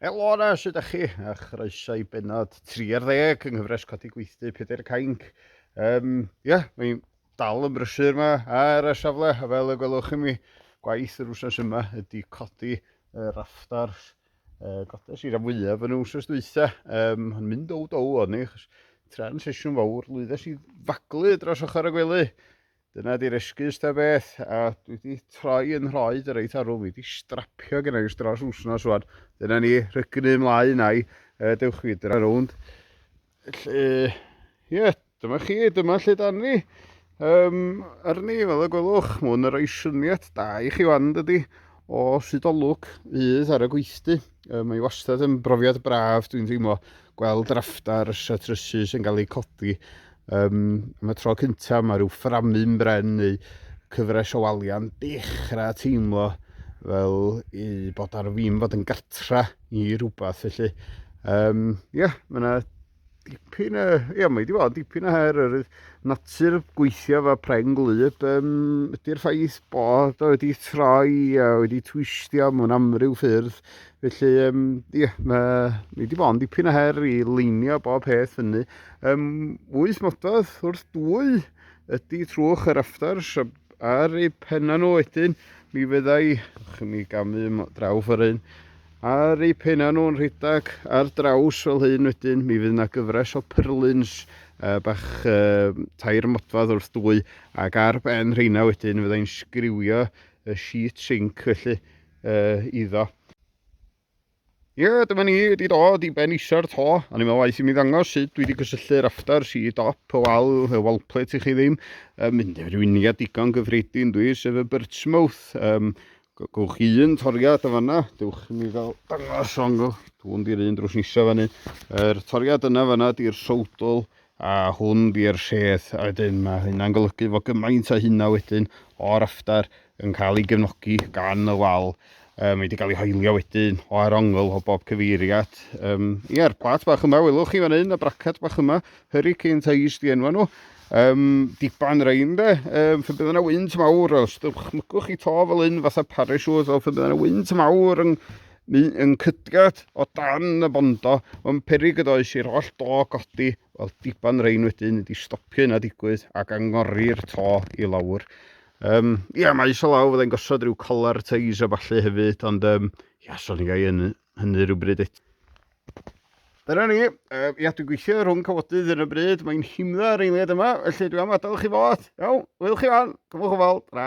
Helo yna, sut ydych chi? A chroeso i benod 30 yng nghyfres Codi Gweithdy Pedair y Cainc. Um, ie, yeah, mae'n dal yn brysur yma ar y safle, a fel y gwelwch chi mi, gwaith yr wsnos yma ydy codi y raftars uh, godes i'r fwyaf yn y wsnos dwytha, um, yn mynd o dow o'n i, achos tra'n sesiwn fawr, lwyddes i faglu dros ochr y gwely, Dyna di'r esgus da beth, a dwi wedi troi yn nhroed yr eitha rhwng, fi wedi strapio gen i dros wsnos rwan. Dyna ni, rhygnu ymlaen a'i uh, dewch chi dyna rownd. Felly, ie, yeah, dyma chi, dyma lle dan ni. Um, ar ni, fel y gwelwch, mae hwn yn rhoi syniad da i chi wan, dydy, o sut o lwc fydd ar y gweithdy. Um, mae wastad yn brofiad braf, dwi'n teimlo. gweld draffta rysia trysu sy'n cael eu codi. Um, am y tro cyntaf mae rhyw fframu'n bren neu cyfres o walia'n dechrau teimlo fel i bod ar ddim fod yn gartra i rhywbeth felly. Um, yeah, mae yna dipyn o... Ia, mae wedi bod dipyn o her yr natur gweithio fe preng gwlyb. Um, ydy'r ffaith bod o wedi troi a wedi twistio mewn amryw ffyrdd Felly, um, ie, mae ni wedi bod yn dipyn o her i leinio bob peth fyny. Um, wyth mododd wrth dwy ydy trwch yr aftars ar eu penna nhw wedyn. Mi fyddai, chi'n mi gamu draw ffordd hyn, ar eu penna nhw'n rhedeg ar draws fel hyn wedyn, mi fydd yna gyfres o pyrlins uh, bach uh, tair modfad wrth dwy, ac ar ben rheina wedyn fyddai'n sgriwio y sheet sink felly. uh, iddo. Ie, yeah, dyma ni wedi dod i ben isa'r to, a ni'n meddwl waith i mi ddangos sut dwi wedi cysylltu'r after si dop o wal, y wall plate i chi ddim, uh, mynd i'r unia digon gyffredin dwi, sef y birdsmouth. Um, gywch chi un toriad y fanna, dywch mi fel dangos o'n gywch, dwi'n di'r un drws nisa fanny. Yr er, toriad yna fanna di'r sowdl, A hwn bi'r rheth a wedyn mae hynna'n golygu fod gymaint o hynna wedyn o'r raftar yn cael ei gefnogi gan y wal. Um, mae wedi cael ei hoelio wedyn o ar ongl o bob cyfeiriad. Um, Ie'r plat bach yma, welwch chi fan hyn, y bracad bach yma, Hurricane Ties di enwa nhw. Um, diban rein de, um, fe bydd yna wynt mawr, os dychmygwch chi to fel hyn fatha parasiwt, o fe bydd yna wynt mawr yn, Ni yn cydgad o dan y bondo, ond perig ydo oes i'r oll do godi, wel diban rein wedyn ydi stopio hynna digwydd ac angori'r to i lawr. Um, ia, mae iso law, fyddai'n gosod rhyw collar teis a falle hefyd, ond um, ia, so ni gai yn hynny rhywbryd eto. Dyna ni, uh, ia, dwi'n gweithio rhwng cyfodydd yn y bryd, mae'n himdda ar eiliad yma, felly dwi'n am adael chi fod. Iawn, wyl chi fan, cyfwch o fawr, ra.